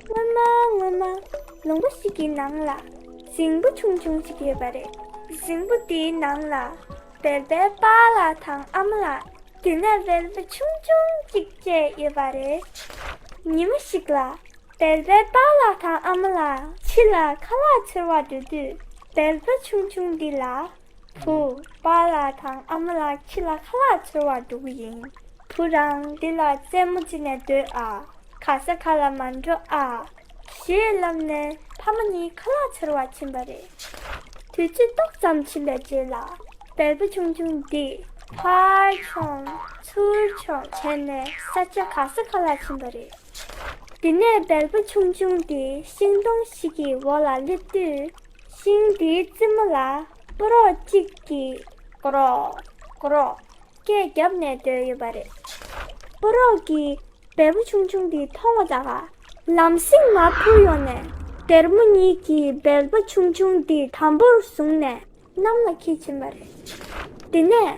སྔོན་མ་སྔོན་མ་ལུང་པ་ཞིག་གི་ནང་ལ་ཞིང་བུ་ཆུང་ཆུང་ཞིག་ཡོད་པ་རེད། ཞིང་བུ་དེའི་ནང་ལ་བལ་པའི་པ་ལ་དང་ཨ་མ་ལ་དེ་ནས་བལ་པོ་ཆུང་ཆུང་གཅིག་བཅས་ཡོད་པ་རེད། ཉིན་མོ་ཞིག་ལ་བལ་པའི་པ་ལ་དང་ཨ་མ་ལ་ཕྱི་ལ་ཁ་ལག་འཚོལ་བར་འགྲོ་དུས་བལ་པོ་ཆུང་ཆུང་འདི་ལ་བུ། པ་ལ་དང་ཨ་མ་ལ་ཁྱི་ལ་ཁ་ལག་འཚོལ་བར་འགྲོ་གི་ཡིན། བུ་རང་འདི་ལ་རྩེད་མོ་ཅི་ནས་འདོད་ཨ། ག་ས་ག་ལ་མ་འགྲོ་ཨ། ཞེས་ལབ་ནས་ཕ་མ་གཉིས་ཁ་ལག་འཚོལ་བར་ཕྱིན་པ་རེད། དུས་ཚོད་ཏོག་ཙམ་ཕྱིན་པའི་རྗེས་ལ། བལ་པོ་ཆུང་ཆུང་འདིས་ཕར་མཆོངས་ཚུར་མཆོངས་བྱས་ནས་ས་ཆ་ག་ས་ག་ལ་ཕྱིན་པ་རེད། དེ་ནས་བལ་པོ་ཆུང་ཆུང་དེ་ཤིང་སྡོང་ཞིག་གི་འོག་ལ་སླེབས་དུས། ཤིང་དེའི་རྩེ་མོ་ལ་པུ་རོག་གཅིག་གིས་ཀོ་རོག་ཀོ་རོག་སྐད་བརྒྱབ་ནས་སྡོད་ཡོད་པ་རེད། པུ་རོག་གིས་བལ་པོ་ཆུང་ཆུང་དེ་མཐོང་བ་དགའ། ལམ་སེང་ང་འཕུར་ཡོང་ནས་སྡེར་མོ་གཉིས་ཀྱིས་བལ་པོ་ཆུང་ཆུང་དེ་དམ་པོར་བཟུང་ནས་གནམ་ལ་ཁྱེར་ཕྱིན་པ་རེད། དེ་ནས།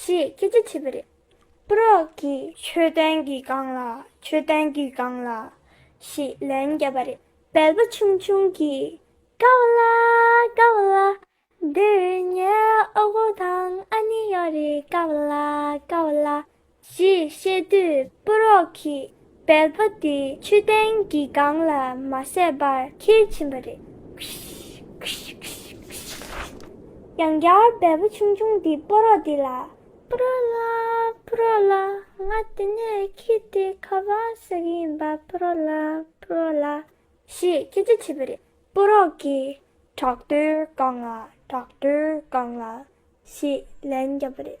ཞེས་སྐད་ཆ་བྱས་པ་རེད། པུ་རོག་གིས། ཆོས་ལྡན་གྱིས་བཀང་ལ་ཆོས་ལྡན་གྱིས་བཀང་ལ། ཞེས་ལན་བརྒྱབ་པ་རེད། བལ་པོ་ཆུང་ཆུང་གིས། དགའ་བོ་ལ་དགའ་བོ་ལ། འདིར་ངའི་ཨོ་དགོ་དང་ཨ་ནེ་ཡོད་རེད་དགའ་བོ་ལ་དགའ་བོ་ལ། ཞེས་བཤད་དུས་པུ་རོག་གིས་བལ་པོ་དེ་ཆུ་གཏན་གྱི་སྒང་ལ་མ་བསད་པར་ཁྱེར་ཕྱིན་པ་རེད། ཡང་བསྐྱར་བལ་པོ་ཆུང་ཆུང་དེ་པུ་རོག་དེ་ལ། པུ་རོག་ལགས་པུ་རོག་ལགས་ང་དེ་ནས་ཁྱི་དེ་ཁ་བར་ཟ་གི་ཡིན་པ་པུ་རོག་ལགས་པུ་རོག་ལགས། ཞེས་སྐད་ཆ་བྱས་པ་རེད། པུ་རོག་གིས་བྲག་རྡོའི་སྒང་ལ་བྲག་རྡོའི་སྒང་ལ་ཞེས་ལན་བརྒྱབ་པ་རེད།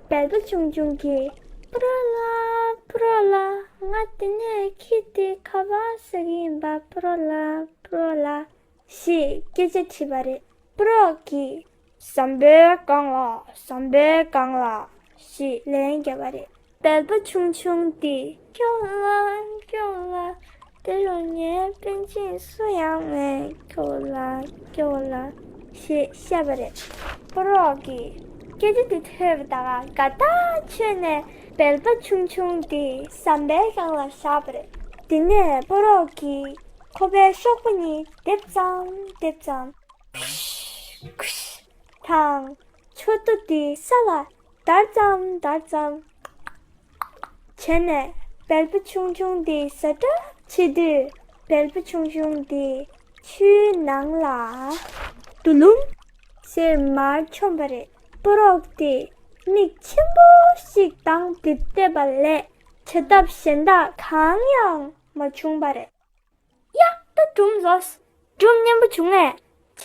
དལ་བུ་ཆུང་ཆུང་གིས་ཕུ་རོ་ལ་ཕུ་རོ་ལ་ང་དེ་ནས་ཁྱི་དེ་ཁ་བ་ཟིག་ཡིན་པ་ཕུ་རོ་ལ་ཕུ་རོ་ལ་ཞེས་སྐད་ཆ་དྲིས་པ་རེད་ཕུ་རོ་གིས། ཟམ་པའི་སྒང་ལ་ཟམ་པའི་སྒང་ལ་ཞེས་ལན་བརྒྱབ་པ་རེད། དལ་བུ་ཆུང་ཆུང་དེས་ཁྱོད་ལ་ཁྱོད་ལ་དེ་རུ་ངའི་དཔོན་ཆེན་སུ་ཡང་མེད་ཁྱོད་ལ་ཁྱོད་ལ་ཞེས་བཤད་པ་རེད། ཕོ་རོག་གིས་སྐད་ཆ་དེ་ཐོས་པ་དང་དགའ་ཐག་ཆོད་ནས་བལ་པ་ཆུང་ཆུང་དེ་ཟམ་པའི་གཡང་ལ་བཞག་པ་རེད། དེ་ནས་ཕོ་རོག་གིས་ཁོ་པའི་གཤོག་པ་གཉིས་རྡེབ་ཙམ་རྡེབ་ཙམ། ཁུཤ། ཁུཤ། དང། མཆོད་བསྟོད་དེ་ས་ལ་དར་ཙམ་དར་ཙམ་བྱས་ནས་བལ་པོ་ཆུང་ཆུང་དེ་ཟ་གྲབས་བྱེད་དུས་བལ་པོ་ཆུང་ཆུང་དེ་ཆུའི་ནང་ལ་དུ་ལུམ། ཟེར་མར་ཆོམས་པ་རེད། པོ་རོག་དེ་མིག་ཆེན་པོ་ཞིག་དང་དེབ་བལྟས་པ་ལས་བྱ་ཐབས་གཞན་དག་གང་ཡང་མ་བྱུང་བ་རེད། ཡ། ད་གྲུམ་བཟོ། གྲུམ་སྙན་པོ་བྱུང་ངས།